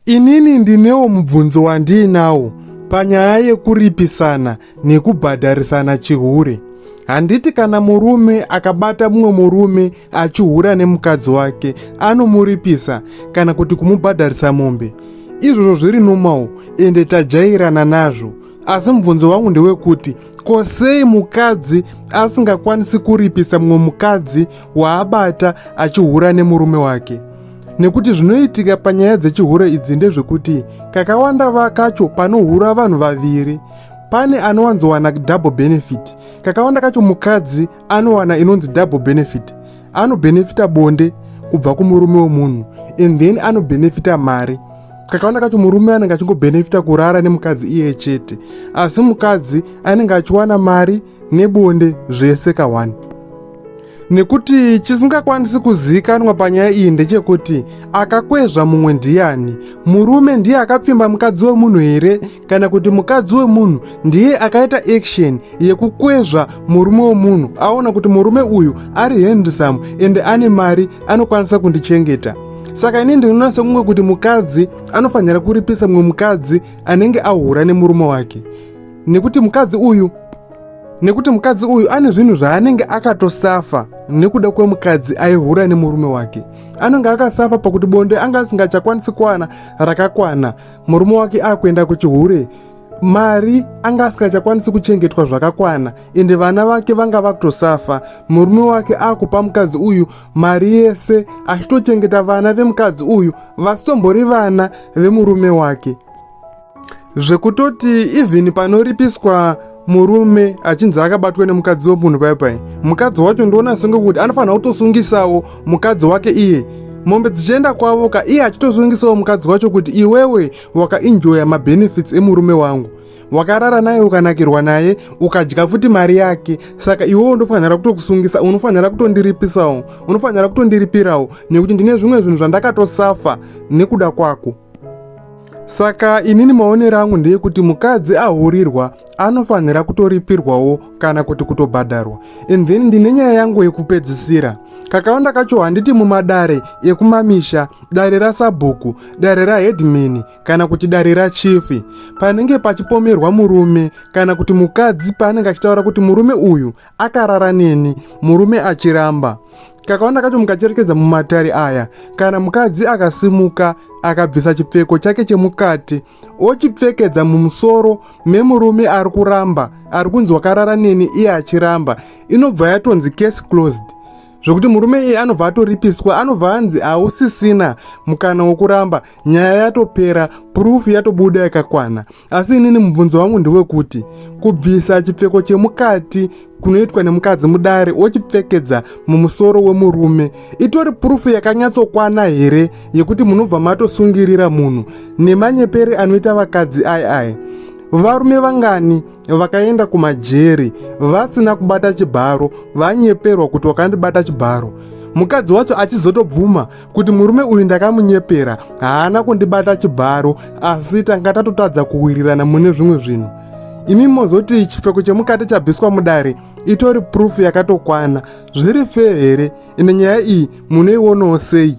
Inini ndinewo mubvunzo wandiinawo panyaya yekuripisana nekubhadharisana chihure. Handiti kana murume akabata mumwe murume achihura nemukadzi wake anomuripisa kana kuti kumubhadharisa mombe? Izvozvo zviri nomawo ende tajairana nazvo. Asi mubvunzo wangu ndewekuti ko sei mukadzi asingakwanisi kuripisa mumwe mukadzi waabata achihura nemurume wake? nekuti zvinoitika panyaya dzechihure idzi ndezvekuti kakawanda vakacho panohura vanhu vaviri pane anowanzowana double benefit kakawanda kacho mukadzi anowana inonzi double benefit anobenefita bonde kubva kumurume wemunhu and then anobenefita mari kakawanda kacho murume anenge achingobenefita kurara nemukadzi iye chete asi mukadzi anenge achiwana mari nebonde zvese kawani nekuti chisingakwanisi kuzivikanwa panyaya iyi ndechekuti akakwezva mumwe ndiyani murume ndiye akapfimba mukadzi wemunhu here kana kuti mukadzi wemunhu ndiye akaita action yekukwezva murume wemunhu aona kuti murume uyu ari handsome ende ane mari anokwanisa kundichengeta saka ini ndinoona sekunge kuti mukadzi anofanira kuripisa mumwe mukadzi anenge ahura nemurume wake nekuti mukadzi uyu nekuti mukadzi uyu ane zvinhu zvaanenge akatosafa nekuda kwemukadzi aihura nemurume wake anenge akasafa pakuti bonde anga asingachakwanisi kwana rakakwana murume wake akuenda kuchihure mari anga asingachakwanisi kuchengetwa zvakakwana ende vana vake vanga vakutosafa murume wake akupa mukadzi uyu mari yese achitochengeta vana vemukadzi uyu vasitombori vana vemurume wake zvekutoti even panoripiswa murume achinzi akabatwa nemukadzi wemunhu pai pai mukadzi wacho ndoona senge kuti anofanira kutosungisawo mukadzi wake iye mombe dzichienda kwavo ka iye achitosungisawo mukadzi wacho kuti iwewe wakainjoya mabenefits emurume wangu wakarara naye ukanakirwa naye ukadya futi mari yake saka iwewo unofanira kutokusungisa unofanira kutondiripisawo unofanira kutondiripirawo nekuti ndine zvimwe zvinhu zvandakatosafa nekuda kwako Saka inini maonero angu ndeyekuti mukadzi ahurirwa anofanira kutoripirwawo kana kuti kutobhadharwa and then ndine nyaya yangu yekupedzisira kakawanda kacho handiti mumadare ekumamisha dare rasabhuku dare rahedmini kana kuti dare rachifi panenge pachipomerwa murume kana kuti mukadzi paanenge achitaura kuti murume uyu akarara neni murume achiramba kakaona kacho mukacherekedza mumatare aya kana mukadzi akasimuka akabvisa chipfeko chake chemukati ochipfekedza mumusoro memurume ari kuramba ari kunzi wakarara neni iye achiramba inobva yatonzi case closed zvokuti murume iye anobva atoripiswa anobva anzi hausisina mukana wokuramba nyaya yatopera purufu yatobuda yakakwana asi inini mubvunzo wangu ndewekuti kubvisa chipfeko chemukati kunoitwa nemukadzi mudare wochipfekedza mumusoro wemurume itori purufu yakanyatsokwana here yekuti munobva matosungirira munhu nemanyepere anoita vakadzi ai ai varume vangani vakaenda kumajeri vasina kubata chibharo vanyeperwa kuti wakandibata chibharo mukadzi wacho achizotobvuma kuti murume uyu ndakamunyepera haana kundibata chibharo asi tanga tatotadza kuwirirana mune zvimwe zvinhu imi mozoti chipfeko chemukati chabviswa mudare itori prufu yakatokwana zviri fee here ine nyaya iyi munoionawo sei